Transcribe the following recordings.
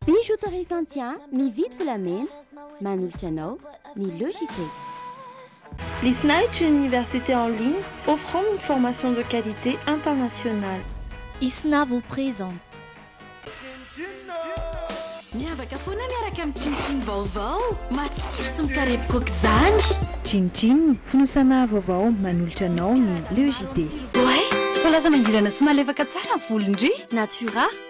Bijoux Torres Santia mividy volamena manolotra anao ny Logitech. Lysnight une université en ligne offrant une formation de qualité internationale. Isna vous présente. Miavaka foana miaraka amin'ny Chin Chin vaovao, matsiro sy mikarepoka aoka izany! Chin Chin, fonosana vaovao manolotra anao ny Logitech. Oay! Voalaza mangirana sy malefaka tsara ny volon-dry Natura.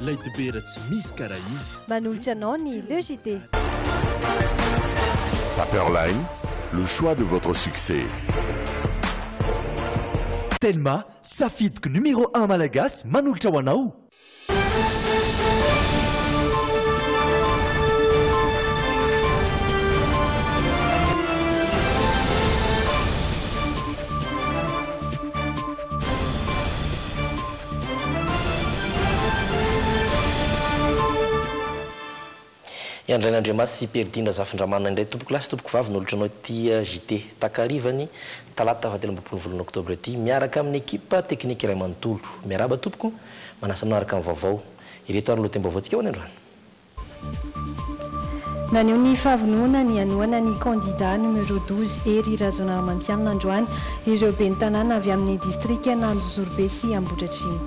Lay dibera tsy misy karaha izy. Manolotra anao ny Le JT. Paperline, le choix de votre succès. Telma, safidiko numéro un malagasy manolotra ho anao. I Andrainandriamasy sy Peridina Zafindramana indray tompokolahy sy tompokovavy no olontranao ity JT takarivan'ny talata fahatelo ambin'ny folo ny volana oktobra ity miaraka amin'ny ekipa teknika iray manontolo. Miarahaba tompoko, manasa anao araka ny vaovao. Ireto ary ny lohatenim-baovaontsika ho any androany. Naneho ny fahavononany hanohana ny kandida numéro douze Hery Rajaonarimampianina androany ireo ben'ny tanàna avy amin'ny distrikan'Anjozorobe sy Ambohidratrimo.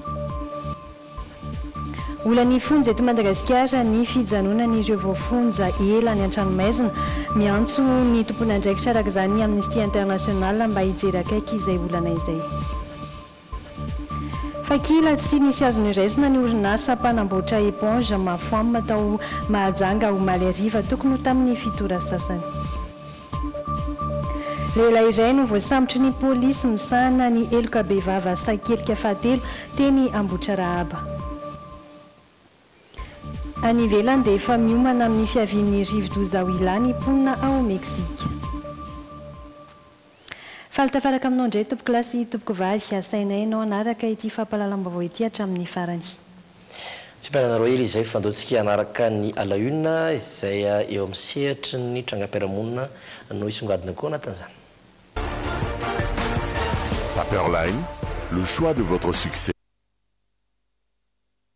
Olan'ny fonja eto Madagasikara ny fijanonan'ireo voafonja ela any an-tranomaizina. Miantso ny tompon'andraikitra araka izany ny Amnesty International mba hijery akaiky izay olana izay. Fa kila tsy nisy azo noraisina ny orinasa mpanamboatra éponge Mafoam tao Mahajanga omaly hariva tokony ho tamin'ny fito ora sasany. Lehilahy iray no voasambotry ny polisy misahana ny heloka bevava sakelika fahatelo teny Ambohitrarahaba. Any ivelany dia efa miomana amin'ny fiavian'ny rivodoza Huila ny mponina ao Meksika. Faly tafaraka aminao indray tompokolahy sy tompokovavy. Asainay ianao hanaraka ity fampahalalam-baovao ity hatramin'ny farany. Tsy ampiananareo hery izay fa andao tsika hanaraka ny à la une izay eo amin'ny sehatry ny trangam-piarahamonina no hisongadina koa anatin'izany. Paperline, le choix de votre succès.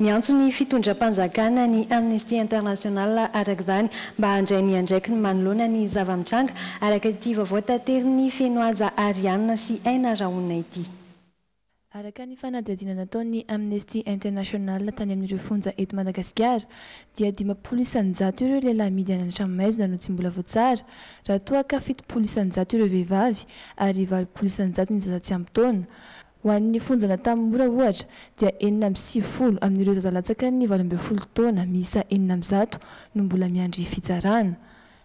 Miantso ny fitondram-panjakana ny Amnesty International araka izany mba handray miandraikiny manoloana ny zava-mitranga, araka ity vaovao taterin'i Fenohaja Ariane sy Aina Rahona ity. Araka ny fanadihadiana nataon'ny Amnesty International tany amin'ireo fonja eto Madagasikara dia dimampolo isan-jato ireo lehilahy mihidy any an-tranomaizina no tsy mbola voatsara, raha toa ka fitopolo isan-jato ireo vehivavy ary valopolo isan-jato ny zaza tsy ampy taona. Ho an'ny fonjana tany Mora ohatra dia enina amby sivifolo amin'ireo zaza latsakan'ny valo ambin'ny folo taona miisa enina amby zato no mbola miandry fitsarana.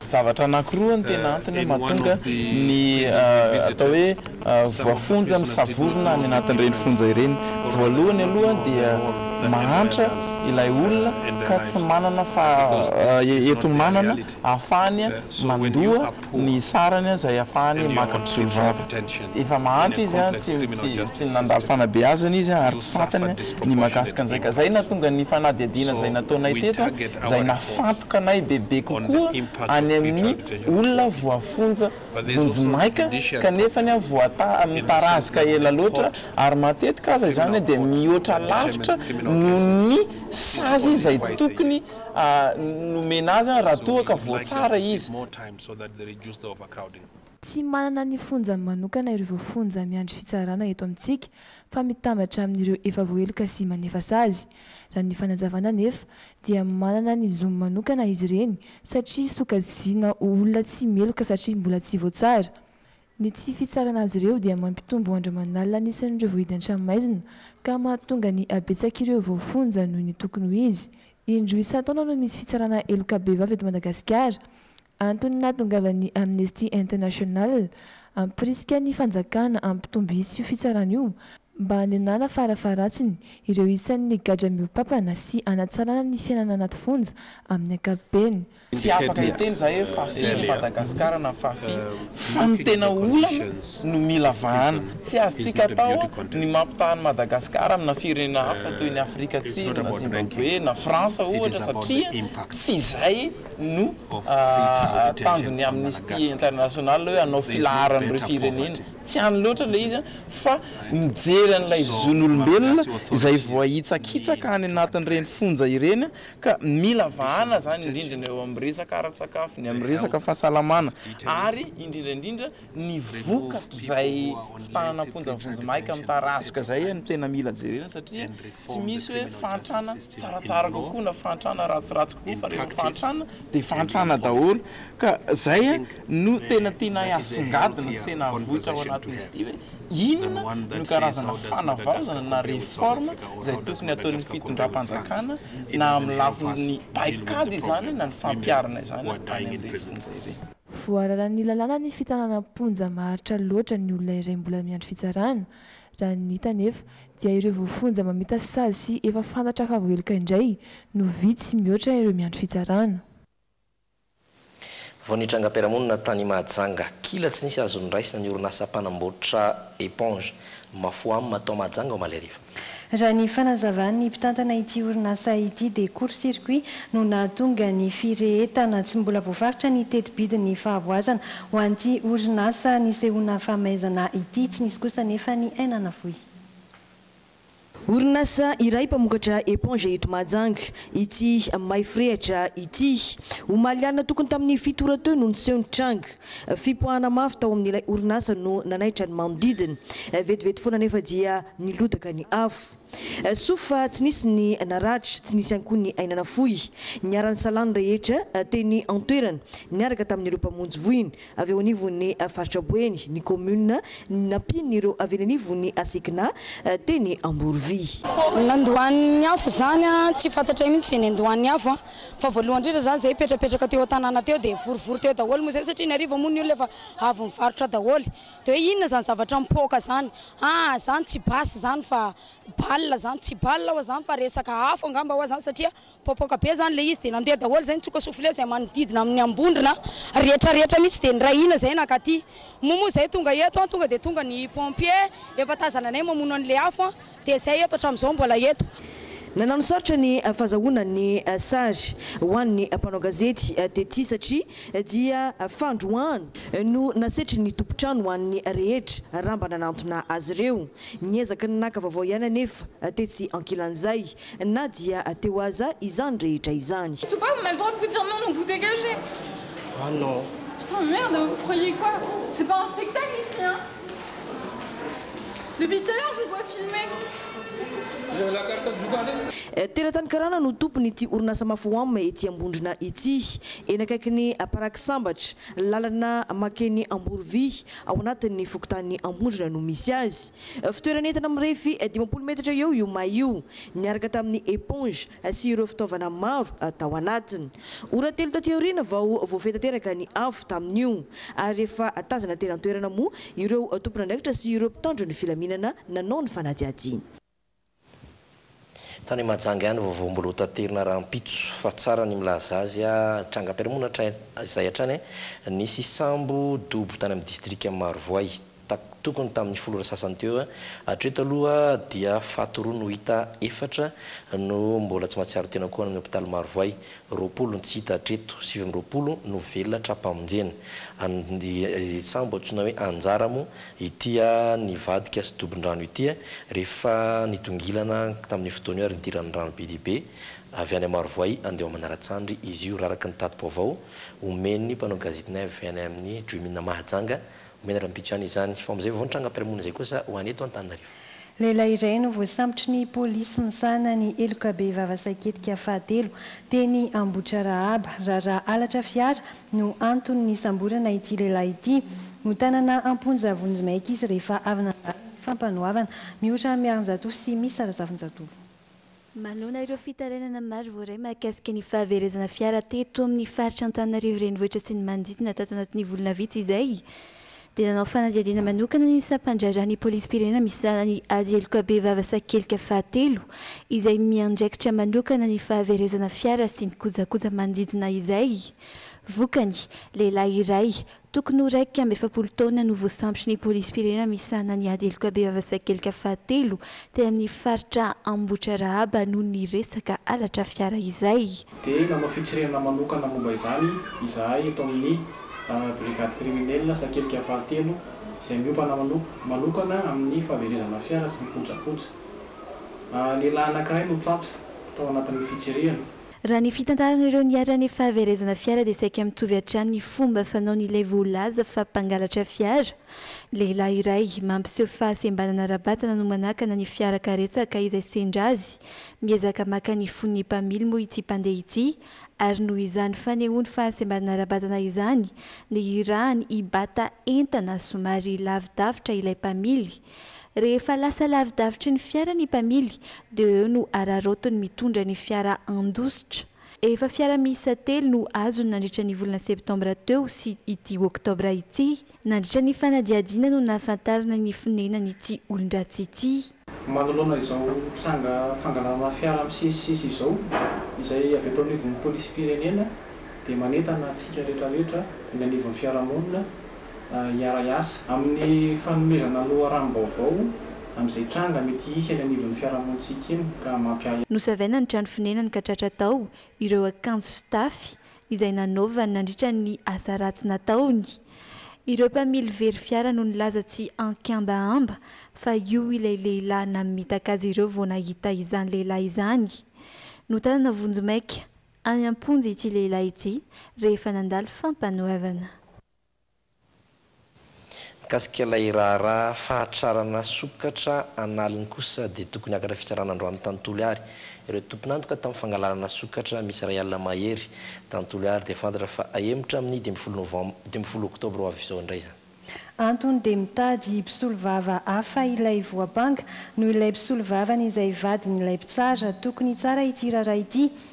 Zavatra anankiroa no tena antony mahatonga ny atao hoe voafonja misavovona any anatin'ireny fonja ireny. Voalohany aloha dia mahantra ilay olona ka tsy manana fa eto manana ahafahany mandoa. ny sarany aza iafahany maka mpisolo vava. Efa mahantra izy an, tsy tsy nandalo fanabeazana izy an, ary tsy fantany an ny mahakasika an'izay ka. Zay nahatonga ny fanadihadiana zay nataonay teto an, zay nahafantoka anay bebe kokoa any amin'ny olona voafonja vonjimaika kanefany an voata mitarazoka ela loatra ary matetika aza izany an dia mihoatra lavitra noho ny sazy izay tokony nomena azy raha toa ka voatsara izy. Tsy manana ny fonjany manokana ireo voafonja miandry fitsarana eto amintsika fa mitambatra amin'ireo efa voaheloka sy manefa sazy. Raha ny fanazavana anefa dia manana ny zony manokana izy ireny satria sokajiana ho olona tsy meloka satria mbola tsy voatsara. Ny tsy fitsarana azy ireo dia mampitombo andro aman'alina ny isan'ireo voahidy an-tranomaizina ka mahatonga ny habetsak'ireo voafonja noho ny tokony ho izy. Indroa isan-taona no misy fitsarana heloka bevava eto Madagasikara. Antony nahatongavan'ny Amnesty International hampirisika ny fanjakana hampitombo isa io fitsarana io mba hanenana farafaharatsiny ireo isan'ny gadra mihoa-pampana sy hanatsarana ny fiainana anaty fonja amin'ny ankapobeny. Tsy afaka hiteny za hoe fa firy ny Madagascar na fa firy fa ny tena olana no mila vahana. Tsy azontsika atao ny mampitaha an'i Madagascar amina firenena hafa toy ny Afrika Atsimo na Zimbabwe na France ohatra satria tsy izay no tanjon'ny Amnesty International hoe hanao filaharan'ireo firenena. Tsy any loatra ilay izy fa mijery an'ilay zon'olombelona izay voahitsakitsaka any anatin'ireny fonja ireny Ka mila vahana izany indrindra ny eo amin'ny resaka ara-tsakafo, ny amin'ny resaka fahasalamana ary indrindra indrindra ny vokatr'izay fitànana am-ponja vonjimaika mitarazoka izay no tena mila jerena satria tsy misy hoe fahantrana tsaratsara kokoa na fahantrana ratsiratsy kokoa fa rehefa fahantrana dia fahantrana daholo ka izay no tena tianay asongadina sy tena havoitra ao anatin'izy ity hoe Inona no karazana fanavaozana na réforme izay tokony ataon'ny fitondram-panjakana na amin'ny lafin'ny paikady izany na ny fampiharana izany any amin'ny renivohitra. Voararan'ny lalàna ny fitanana am-ponja maharitra loatra ny olona iray mbola miandry fitsarana. Raha ny hita anefa dia ireo voafonja mamita sazy sy efa fantatra fa voaheloka indray no vitsy mihoatra ireo miandry fitsarana. Vao ny trangam-piarahamonina tany Mahajanga, kila tsy nisy azo noraisina ny orinasa mpanamboatra éponge Mafoam tao Mahajanga omaly hariva. Raha ny fanazavan'ny mpitantana ity orinasa ity dia court circuit no nahatonga ny firehetana. Tsy mbola voafaritra ny teti-bidin'ny fahavoazana ho an'ity orinasa nisehoana famaizana ity. Tsy nisy kosa anefa ny aina navoy. Orinasa iray mpamokatra éponge eto Mahajanga ity Maifrehatra ity. Omaly alina tokony tamin'ny fito ora teo no niseho ny tranga. Fipoahana mafy tao amin'ilay orinasa no nanaitra ny manodidina. Vetivety foana anefa dia nilodaka ny afo. Soa fa tsy nisy ny naratra, tsy nisy ihany koa ny aina nafoy. Niara-nisalahy ny rehetra teny an-toerana niaraka tamin'ireo mpamonjy voina Avy eo anivon'ny faritra Boeny ny kaominina nampian'ireo avy eny anivon'ny Asekna teny Amborovia. Nandoan'ny afo izany, tsy fantatray mihitsy izay niandohan'ny afo fa voalohany indrindra izany izay hipetrapetraka teo an-tanàna teo dia vorovoro teo daholo moa izay satria ny hariva moa ny olona efa avy nivarotra daholo dia hoe inona izany zavatra mipoaka izany? aa izany tsy basy izany fa bal izany, tsy bal ho'a izany fa resaka afo angamba ho'a izany satria Popoka be izany ilay izy dia nandeha daholo izay nitsoka souflet izay manodidina amin'ny ambondrona rehetra rehetra mihitsy dia nirahina izay nankaty moa moa izay tonga eto an tonga dia tonga ny pompier efa tazananay mamono an'ilay afo an dia izay eto hatramin'izao mbola eto. Nananosarotra ny fazahoana ny sary ho an'ny mpanao gazety tety satria dia fandroahana no nasetrin'ny tompon-trano ho an'ny rehetra raha mba nanantona azy ireo. Niezaka ny naka vaovao ihany anefa tetsy ankilan'izay Na dia teo aza izany rehetra izany. Surtout pas, vous n'avez pas le droit de vous dire non non vous dégagez. Ah non. Putain merde vous croyez quoi? C'est pas un spectacle ici hein. Depuis tout à l'heure je vous vois filmer. Teratany Karana no tompon'ity orinasa Mafoam ety Ambondrona ity. Eny akaikin'ny paraky sambatra, lalana makeny Amborovy, ao anatin'ny fokontanin'i Ambondrona no misy azy. Fitoerana entana mirefy dimampolo metatra eo io may io, niaraka tamin'ny éponge sy ireo fitaovana maro tao anatiny. Ora telo taty aoriana vao voafehy tanteraka ny afo tamin'io, ary efa tazana teny an-toerana moa ireo tompon'andraikitra sy ireo mpitandro ny filaminana nanao ny fanadihadiana. Tany Mahajanga ihany vaovao mbola ho taterina rahampitso fa tsara ny milaza azy a! Trangam-piarahamonina hatrizay hatrany nisy sambo dobo tany amin'ny distrika Marovoay tokony tamin'ny folo ora sasany teo. Hatreto aloha dia faty roa no hita, efatra no mbola tsy mahatsiaro tena koa any amin'ny hopitaly Marovoay, roapolo no tsy hita hatreto, sivy amby roapolo no velona tra-pamonjena. Ny sambo antsoina hoe Anjara moa Ity nivadika sy dobon-drano ity rehefa nitongilana tamin'io fotoana io ary nidiran'ny rano be dia be avy any Marovoay handeha ao Manaratsandry izy io raraka ny tati-baovao omen'ny mpanao gazety ny avy any amin'ny Jumin Mahajanga omena rahampitso ihany izany fa amin'izay vao nitranga am-piarahamonina izay kosa ho any eto Antananarivo. Lehilahy iray no voasambotry ny polisy misahana ny heloka bevava saiketika fahatelo teny Ambohitrarahaba. Raharaha halatra fiara no anton'ny nisamborana ity lehilahy ity. Notanana am-ponja vonjimaika izy rehefa avy nandalo ny fampanoavana mihoatra miarinjato sy misy sarazafinjatovo. Manoloana ireo fitarainana maro voaray mahakasika ny fahaverezana fiara teto amin'ny faritra Antananarivo Renivohitra sy ny manodidina tato anatin'ny volana vitsy izay dia nanao fanadihadiana manokana ny sampan-draharahan'ny polisim-pirenena misahana ny ady heloka bevava sakelika fahatelo izay miandraikitra manokana ny fahaverezana fiara sy ny kojakoja manodidina izay vokany lehilahy iray Tokony ho iraika amby efapolo taona no voasambotra ny polisim-pirenena misahana ny ady heloka bevava sakelika fahatelo teny amin'ny faritra Ambohitrarahaba noho ny resaka halatra fiara izay. Dia nanao fitsirihana manokana momba izany izahay eto amin'ny Brigade Criminelle sakelika fahatelo izay miompana manokana amin'ny fahaverezana fiara sy ny kojakoja. Lehilahy anankiray no tratra tao anatin'ny fitsirihana. Raha ny fitantaran'ireo niharan'ny fahaverezana fiara dia saika mitovy hatrany ny fomba fanaon'ilay voalaza fa mpangalatra fiara. Lehilahy iray, mampiseho fahasembanana ara-batana no manakana ny fiara karetsaka izay sendra azy. Miezaka maka ny fon'ny mpamily moa ity mpandeha ity ary noho izany fanehoany fahasembanana ara-batana izany, nihirahany hibata entana somary lavidavitra ilay mpamily. Rehefa lasa lavidavitry ny fiara ny mpamily dia eo no araraotiny mitondra ny fiara handositra. Efa fiara miisa telo no azony nandritra ny volana septambra teo sy ity oktobra ity. Nandritra ny fanadihadiana no nahafantarana ny fonenan'ity olon-dratsy ity. Manoloana izao tranga fangalana fiara misesisesy izao, izay avy eto anivon'ny Polisim-pirenena dia manentana antsika rehetrarehetra eny anivon'ny fiarahamonina, hiara-hiasa amin'ny fanomezana loharanom-baovao amin'izay tranga mety hisy eny anivon'ny fiarahamonintsika eny ka mampiahiahy. Nosavaina ny trano fonenany ka tratra tao ireo akanjo fitafy izay nanaovany nandritra ny asa ratsy nataony. Ireo mpamily very fiara no nilaza tsy an-kambahamba fa io ilay lehilahy namitaka azy ireo vao nahita izany lehilahy izany. Notanana vonjimaika any am-ponja ity lehilahy ity rehefa nandalo fampanoavana. Mikasika ilay raharaha fahatrarana sokatra an'aliny kosa dia tokony hakatra fitsarana androany tantoly ary ireo tompon'antoka tamin'ny fangalarana sokatra misy iray alina mahery tantoly ary dia fantatra fa hahemotra amin'ny dimy folo novem dimy folo oktobra ho avy izao indray izany. Antony dia mitady mpisolovava hafa ilay voampanga noho ilay mpisolovavany izay vadin'ilay mpitsara, tokony hitsara ity raharaha ity.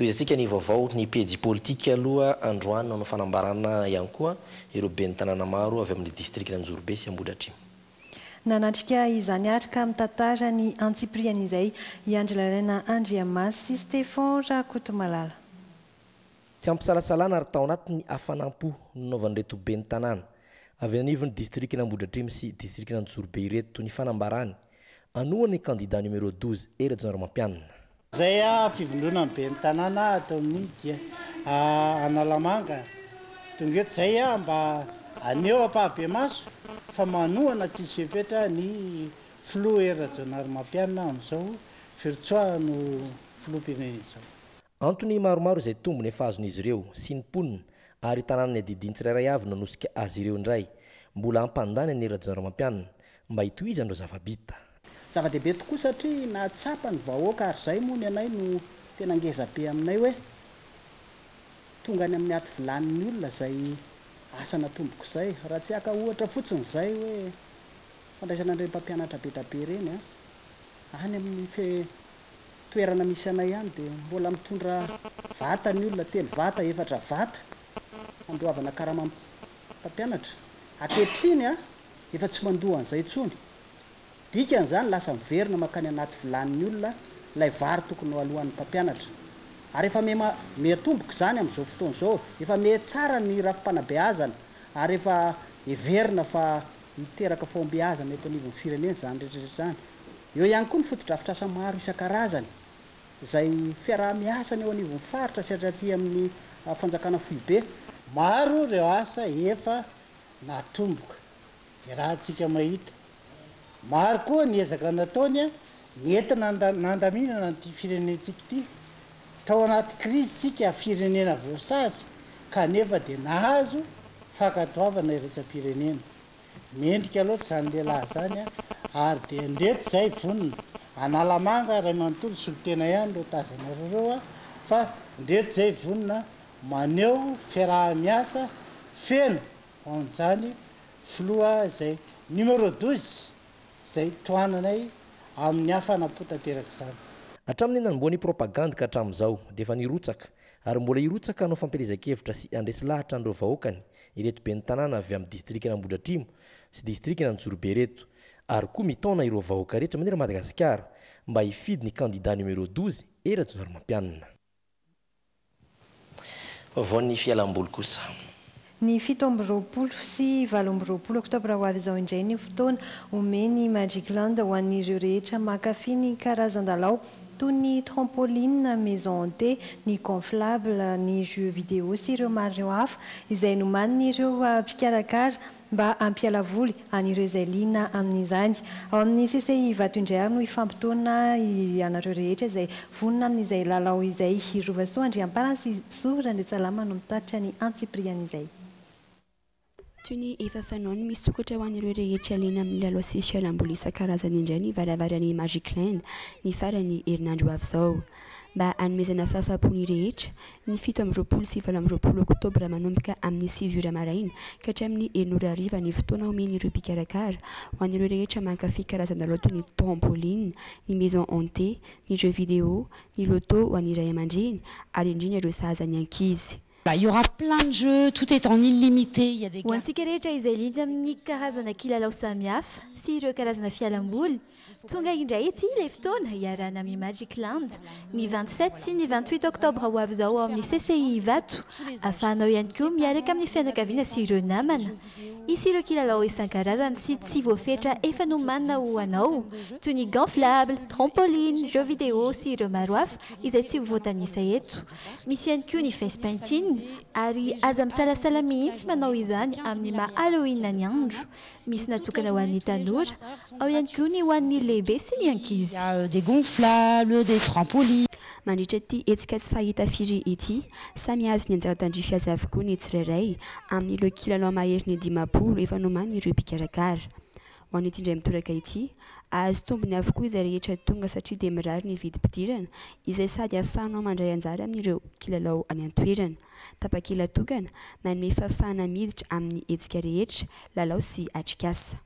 Tohizantsika ny vaovao ny pejy politika aloha androany nanao fanambarana ihany koa ireo ben'ny tanàna maro avy amin'ny distrikan'Anjorobe sy Ambohidratrimo. Nanatrika izany ary ka mitantara ny antsipiriany izay i Andry Lalaina Andriamasy sy Stefan Rakotomalala. Tsy am-pisalasalana ary tao anatin'ny hafanam-po no nanaovan'ireto ben'ny tanàna avy eny anivon'ny distrikan'Ambohidratrimo sy distrikan'Anjozorobe ireto ny fanambarany anohana ny kandida numéro douze Hery Rajaonarimampianina. Izay fivondronan'ny ben'ny tanàna ato amin'ny dia Analamanga. Tonga eto izay mba haneho ampahabemaso fa manohana tsisy fepetra ny filoha Hery Rajaonarimampianina amin'izao firotsoahan'ny filoham-pirenena izao. Antony maromaro izay tombony efa azon'izy ireo, sy ny mponina, ary tanàna ny adidiany tsirairay avy nanosika azy ireo indray. Mbola hampandany an'i Rajaonarimampianina, mba hitohizany ireo zava-bita. Zava-dehibe tokoa satria nahatsapa ny vahoaka ary izay moa ny anay no tena ngeza be aminay hoe tonga any amin'ny aty vilanin'ny olona izay asa natomboko izay. Raha tsy haka ohatra fotsiny izay hoe fandraisana an'ireny mpampianatra be dia be ireny any amin'ny toerana misy anay any dia mbola mitondra vata ny olona, telo vata, efatra vata, handoavana karamam pampianatra. Ankehitriny efa tsy mandoa an'izay intsony. Dikan'izany lasa miverina mankany anaty vilanin'ny olona ilay vary tokony hoaloan'ny mpampianatra. Ary efa miha mihatomboka izany amin'izao fotoana izao. Efa miha tsara ny rafi-panabeazana ary efa heverina fa hiteraka fahombiazana eto anivon'ny firenena izany rehetra rehetra izany. Eo ihany koa ny fotodrafitrasa maro isan-karazany izay fiaraha-miasany eo anivon'ny faritra sy aty amin'ny fanjakana foibe. Maro ireo asa efa natomboka, iarahantsika mahita. Maro koa ny ezaka nataony nentina nandaminana an'ity firenentsika ity. Tao anaty krizy isika firenena voasazy kanefa dia nahazo fankatoavana iraisam-pirenena. Mendrika loatra izany lehilahy izany a! Ary dia ndreto izay vonona. Analamanga, Raimanontolo, Solotena ihany no tazanareo ireo a! Fa ndreto izay vonona maneho fiaraha-miasa feno ho an'izany filoha izay numéro douze izay tohananay amin'ny hafanam-po tanteraka izany. Hatramin'ny nanombohan'ny propagandy ka hatramin'izao dia efa nirotsaka Ary mbola hirotsaka hanao fampielezan-kevitra sy handresy lahatra an'ireo vahoakany ireto ben'ny tanàna avy amin'ny distrikan'Ambohidratrimo sy distrikan'Anjorobe ireto, ary koa mitaona ireo vahoaka rehetra manerana Madagasikara mba hifidy ny kandida numéro douze E Rajaonarimampianina. Vaovaon'ny fialam-boly kosa. Ny fito amby roapolo sy valo amby roapolo oktobra ho avy izao indray ny fotoana omen'ny Magic Land ho an'ireo rehetra mankafy ny karazan-dalao toy ny trampoline, maison hantée, ny gonflable, ny jeux vidéo sy ireo maro hafa izay nomanin'ireo mpikarakara mba hampiala voly. an'ireo izay liana amin'izany. Ao amin'ny CCI Ivato indray ary no hifampitaona ianareo rehetra izay vonona amin'izay lalao izay. I Rovasoa Andriampana sy Zo Randriantsalama no mitatitra ny antsipirihan'izay. Toy ny efa fanao ny misokatra ho an'ireo rehetra liana amin'ny lalao sy fialamboly isan-karazany indray ny varavaran'ny Magic Land ny faran'ny herinandro ho avy izao. mba hanomezana fahafahampo ny rehetra, ny fito amby roapolo sy valo amby roapolo oktobra manomboka amin'ny sivy ora maraina ka hatramin'ny enina ora hariva ny fotoana omen'ireo mpikarakara ho an'ireo rehetra mankafy karazana lalao toy ny trampoline, ny maison hantée, ny jeux vidéo, ny loto ho an'ny ray aman-dreny ary indrindra ireo sahaza ny ankizy. Ho antsika rehetra izay liana amin'ny karazana kilalao samihafa sy ireo karazana fialamboly, tonga indray ity ilay fotoana hiarahana amin'ny Magic Land, ny vingt sept sy ny vingt huit oktobra ho avy izao ao amin'ny CCI Ivato, ahafahanao ihany koa miaraka amin'ny fianakaviana sy ireo namana. Hisy ireo kilalao isan-karazany sy tsy voafetra efa nomanina ho anao, toy ny gonflable, trampoline, jeux vidéo sy ireo maro hafa izay tsy ho voatanisa eto. Misy ihany koa ny face painting ary aza misalasala mihitsy manao izany amin'ny maha Halloween ny andro. Misy natokana ho an'ny tanora, ao ihany koa ny ho an'ny lehibe sy ny ankizy. Mandritra ity hetsika tsy fahita firy ity, samy hahazo ny anjara tandrify azy avokoa ny tsirairay amin'ireo kilalao maherin'ny dimampolo efa nomanin'ireo mpikarakara. ho an'ity indray mitoraka ity. Hahazo tombony avokoa izay rehetra tonga satria dia mirary ny vidim-pidirana izay sady ahafahanao mandray anjara amin'ireo kilalao any an-toerana. Tapakila tokana manome fahafahana miditra amin'ny hetsika rehetra, lalao sy atrikasa.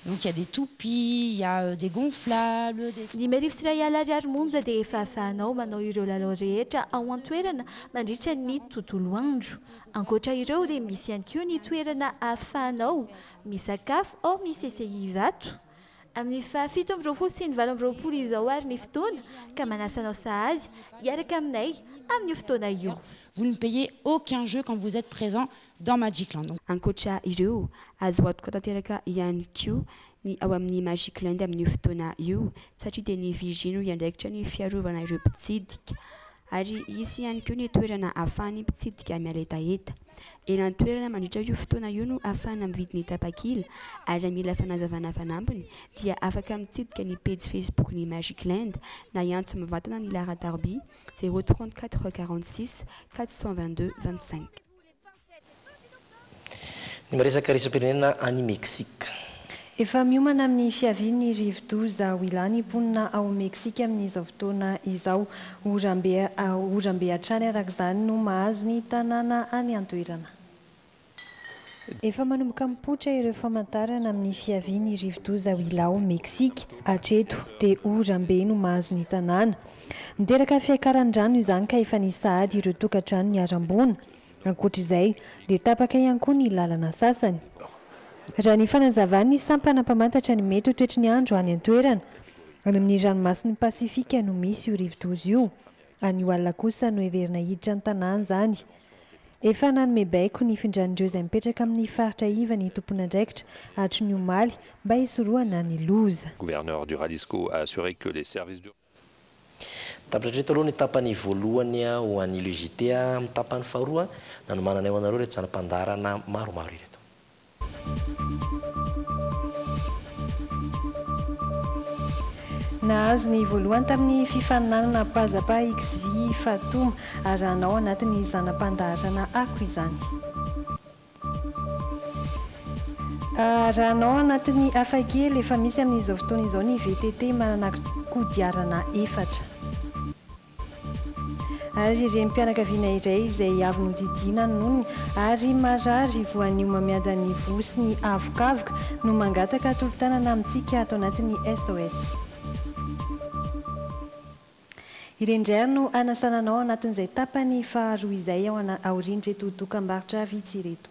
Donc il y a des toupies, il y a des gonflables, des. Dimy arivo sy iray alina ariary monja dia efa ahafahanao manao ireo lalao rehetra ao an-toerana mandritra ny tontolo andro. Ankoatra ireo dia misy ihany koa ny toerana ahafahanao Misakafo ao amin'ny CCI izato amin'ny faha fito amby roapolo sy ny valo amby roapolo izao ary ny fotoana ka manasa anao sahazy hiaraka aminay amin'io fotoana io. Vous ne payez aucun jeu quand vous etes présent dans Magicland. Ankoatra ireo, azo antoka tanteraka ihany koa ny ao amin'ny Magicland amin'io fotoana io satria dia ny vigie no hiandraikitra ny fiarovana ireo mpitsidika. ary hisy ihany koa ny toerana ahafahan'ny mpitsidika miaretaheta. Eny an-toerana mandritra io fotoana io no ahafahana mividy ny tapakila, ary raha mila fanazavana fanampiny dia afaka mitsidika ny pejy Facebook ny Magic Land na hiantso mivantana ny Lara Darby, zéro trente-quatre quarante-six quatre cent vingt-deux vingt-cinq. Ny miresaka iraisam-pirenena any Meksika. Efa miomana amin'ny fiavian'ny rivodoza Willa ny mponina ao Meksika amin'izao fotoana izao. Oram-be hatrany araka izany no mahazo ny tanàna any an-toerana. Efa manomboka mipoitra ireo famantarana amin'ny fiavian'ny rivodoza Willa ao Meksika. Hatreto dia oram-be no mahazo ny tanàna. Niteraka fiakaran'ny rano izany ka efa nisy sahady ireo tokantrano niharam-boana. Ankoatra izay, dia tapaka ihany koa ny lalana sasany. Raha ny fanazavan'ny sampana mpamantatra ny mety ho toetry ny andro any an-toerana, any amin'ny ranomasin'i Pasifika no misy io rivodoza io. Anio alina kosa no heverina hiditra ny tanàna izany. Efa nanome baiko nifindran'ireo izay mipetraka amin'ny faritra iva ny tompon'andraikitra hatry ny omaly mba hisorohana ny loza. Mitambatra hatreto aloha ny tapany voalohany ho an'ny LUJT. Amin'ny tapany faharoa, nanomananay ho anareo ireto zana-pandaharana maromaro ireto. Nahazo ny voalohany tamin'ny fifaninanana Pazapa Xvi Fatuma. Arahanao anatin'ny zana-pandaharana Ako izany. Raha anao anatin'ny hafa kely, efa misy amin'izao fotoana izao ny VTT manana kodiarana efatra. Ary renim-pianakaviana iray izay avy nodidiana ny nonony ary marary voanio mamiadan'ny voa sy ny avokavoka no mangataka tolo-tanana amintsika ato anatin'ny SOS. Ireny indray ary no hanasana anao anatin'izay tapany faharoa izay ao aorian'ireto dokam-barotra vitsy ireto.